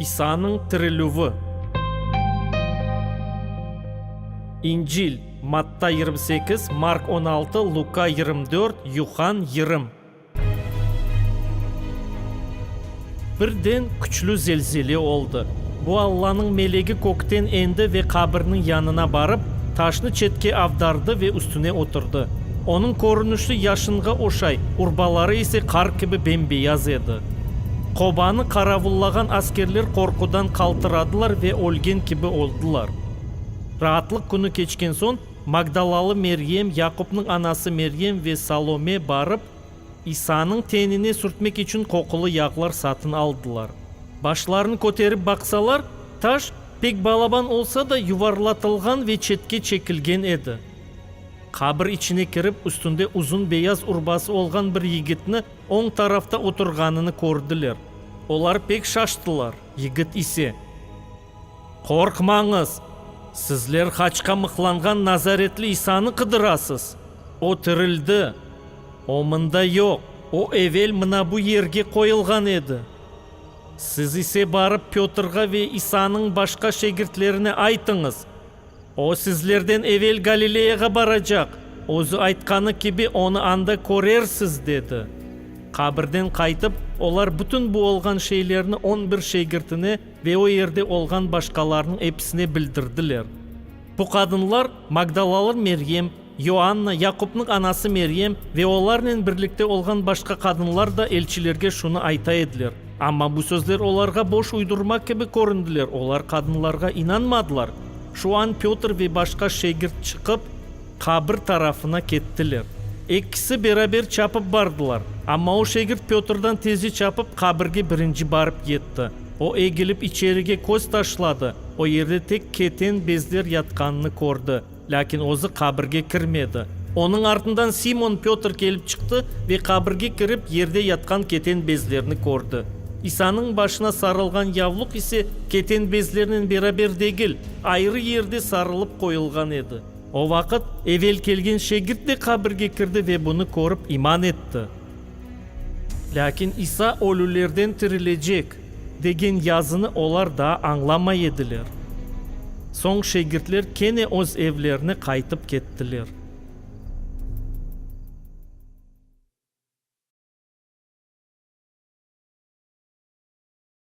İsanıñ tirilüvi. İncil, Matta yirmi sekiz, Mark on altı, Luka yirmi dört, Yuhann yirmi. Birden küçlü zelzele oldı. Bu Allanıñ melegi kökten endi ve qabirniñ yanına barıp, taşnı çetke avdardı ve üstüne oturdı. Onıñ körünişi yaşınğa oşay, urbaları ise qar kibi bembeyaz edi. Qobanı qaravullağan askerler qorqudan qaltıradılar ve ölgen kibi oldılar. Raatlıq künü keçken soñ, magdalalı Meryem, Yaqupnıñ anası Meryem ve Salome barıp, İsanıñ tenine sürtmek içün qoqulı yağlar satın aldılar. Başlarını köterip baqsalar, taş, pek balaban olsa da, yuvarlatılğan ve çetke çekilgen edi. Qabir içine kirip, üstünde uzun beyaz urbası olğan bir yigitni oñ tarafta oturğanını kördiler. Olar pek şaştılar, yigit ise. Qorqmañız! Sizler haçqa mıqlanğan nazaretli İsanı qıdırasız. O tirildi! O mında yoq, o evel mına bu yerge qoyulğan edi. Siz ise barıp Pötrğa ve İsanıñ başqa şegirtlerine aytıñız, O sizlerden evel Galileyağa baracaq, özü aytqanı kibi, onı anda körersiz, dedi. Qabirden qaytıp, olar bütün bu olğan şeylerni on bir şegirtine ve o yerde olğan başqalarnıñ episine bildirdiler. Bu qadınlar, Magdalalı Meryem, Yoanna, Yaqupnıñ anası Meryem ve olarnen birlikte olğan başqa qadınlar da elçilerge şunı ayta ediler. Amma bu sözler olarğa boş uydurma kibi köründiler, olar qadınlarğa inanmadılar. Şu an Pötr ve başqa şegirt çıqıp, qabir tarafına kettiler. Ekkisi beraber çapıp bardılar. Amma o şegirt Pötrden tezi çapıp, qabirge birinci barıp yetti. O egilip içerige köz taşladı, o yerde tek keten bezler yatqanını kördi. Lâkin özü qabirge kirmedi. Onıñ artından Simon Pötr kelip çıqtı ve qabirge kirip, yerde yatqan keten bezlerni kördi. İsanıñ başına sarılğan yavluq ise keten bezlernen beraber degil, ayrı yerde sarılıp qoyulğan edi. O vaqıt evel kelgen şegirt de qabirge kirdi ve bunı körip iman etti. Lâkin İsa ölülerden tirilecek, degen yazını olar daa añlamay ediler. Soñ şegirtler kene öz evlerine qaytıp kettiler.